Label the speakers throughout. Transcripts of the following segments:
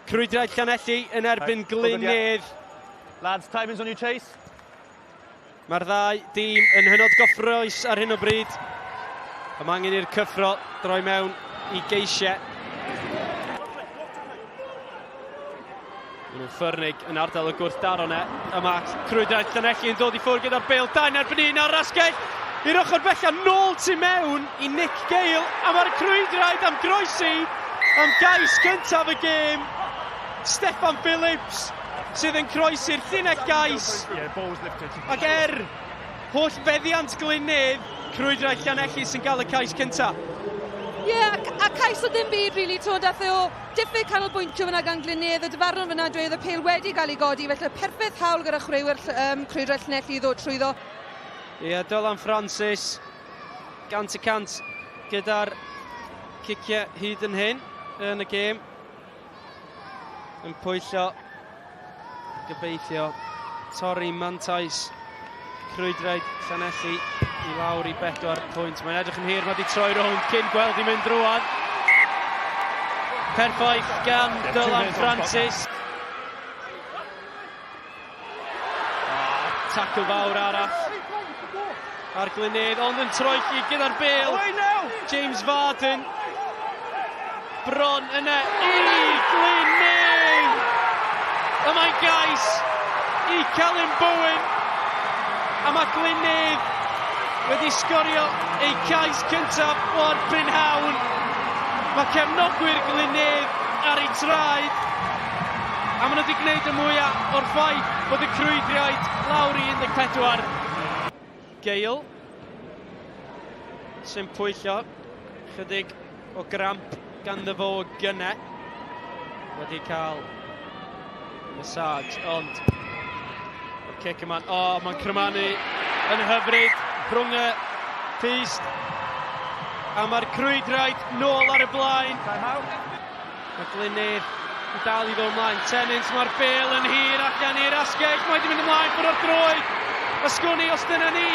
Speaker 1: Crwydrau Llanelli yn erbyn Glynedd. Lads, timing's on your chase. Mae'r ddau dîm yn hynod gofroes ar hyn o bryd. Am angen i'r cyffro droi mewn i geisiau. Maen nhw'n ffyrnig yn ardal y gwrthdaro ne. Yma, Crwydau Llanelli yn dod i ffwrdd gyda'r bêl, dau yn erbyn un ar rasgell i'r ochr bellaf, nôl tu mewn i Nick Gale, a mae'r Crwydraid am groesi am gais gyntaf y gêm. Steffan Phillips sydd yn croesi'r llinell gais, ac er holl feddiant Glynedd, Crwydraid Llanelli sy'n cael y cais cyntaf. Ie, a cais o ddim byd rili, t'mod, ath e o Diffyg canolbwyntio fyna gan Glyn Nedd, y dyfarnwr fyna dweud oedd y pêl wedi cael ei godi, felly perffaith hawl gyda chwaraewyr um, crwydrell Llanelli i ddod trwyddo. Ie, yeah, Dylan Francis, gant y cant gyda'r ciciau hyd yn hyn yn y gêm. Yn pwyllio Gobeithio torri mantais crwydraid Llanelli i lawr i bedwar pwynt. Mae'n edrych yn hir, mae wedi troi rownd cyn gweld i mynd rwan. Perffaith gan Dylan Francis. Tacl fawr arall Ar Glynedd, ond yn troedlu gyda'r bel. James Varden. Bron yna i Glynedd! Y mae gais i Celyn Bowen. A mae Glynedd wedi sgorio ei cais cyntaf o'r prynhawn. Mae cefnogwyr Glynedd ar ei traed. A maen nhw wedi gwneud y mwyaf o'r ffaith bod y crwydriaid lawr i 14. Gael sy'n pwyllo chydig o gramp ganddo fo o gyne. Wedi cael massage, ond y cic yma'n... O, oh, mae'n crymanu yn hyfryd rhwng y pist. A mae'r crwydraid nôl ar y blaen. Mae Glynir yn dal i ddod ymlaen, Tennant, mae'r bel yn hir ac gan i'r asgell, mae wedi mynd ymlaen ffwrdd o'r droed, a sgwn i os dyna ni,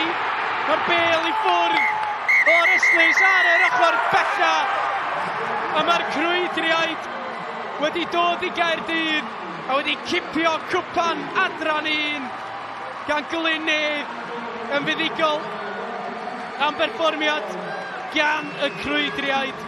Speaker 1: mae'r bel i ffwrdd o'r ystlys ar yr ochr bella, a mae'r crwydriaid wedi dod i Gaerdydd a wedi cipio cwpan adran un gan Glynir yn fuddugol am berfformiad gan y crwydriaid.